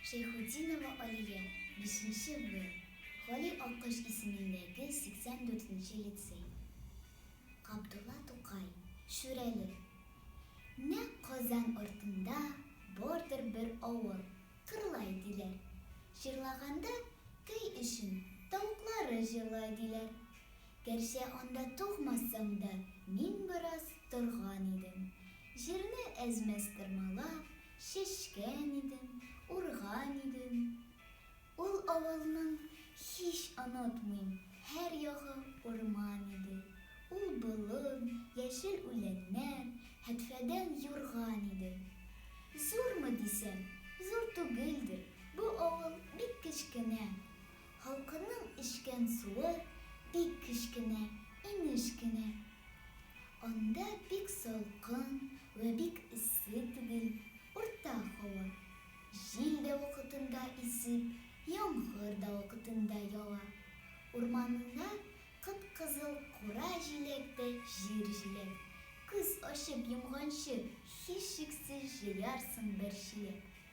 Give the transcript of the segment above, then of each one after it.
Шәйхутдинова Алия, бишенче Б, Гали Аккош исемендәге 84 нче лицей. Габдулла Тукай, Шүрәле. Нәкъ Казан артында бардыр бер авыл, Кырлай диләр. Җырлаганда көй өчен тавыклары җырлай диләр. Гәрчә анда тугмасам да, мин бераз торган идем. Җирне әз-мәз тырмалап, чәчкән идем, урган идем. Ул авылның һич онытмыйм, һәр ягы урман иде. Ул болын, яшел үләннәр, һәтфәдән юрган иде. Зурмы дисәм, зур түгелдер, бу авыл бик кечкенә. Халкының эчкән суы бик кечкенә, инеш кенә. Анда бик салкын вә бик эссе түгел, урта һава. Җил дә вакытында исеп, яңгыр да вакытында ява. Урманында кып-кызыл кура җиләк тә җир җиләк. Күз ачып йомганчы, һичшиксез җыярсың бер чиләк.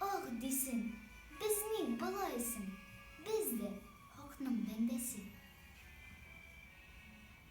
Ах, дисен, без ник болай соң? Без дә, хакның бәндәсе.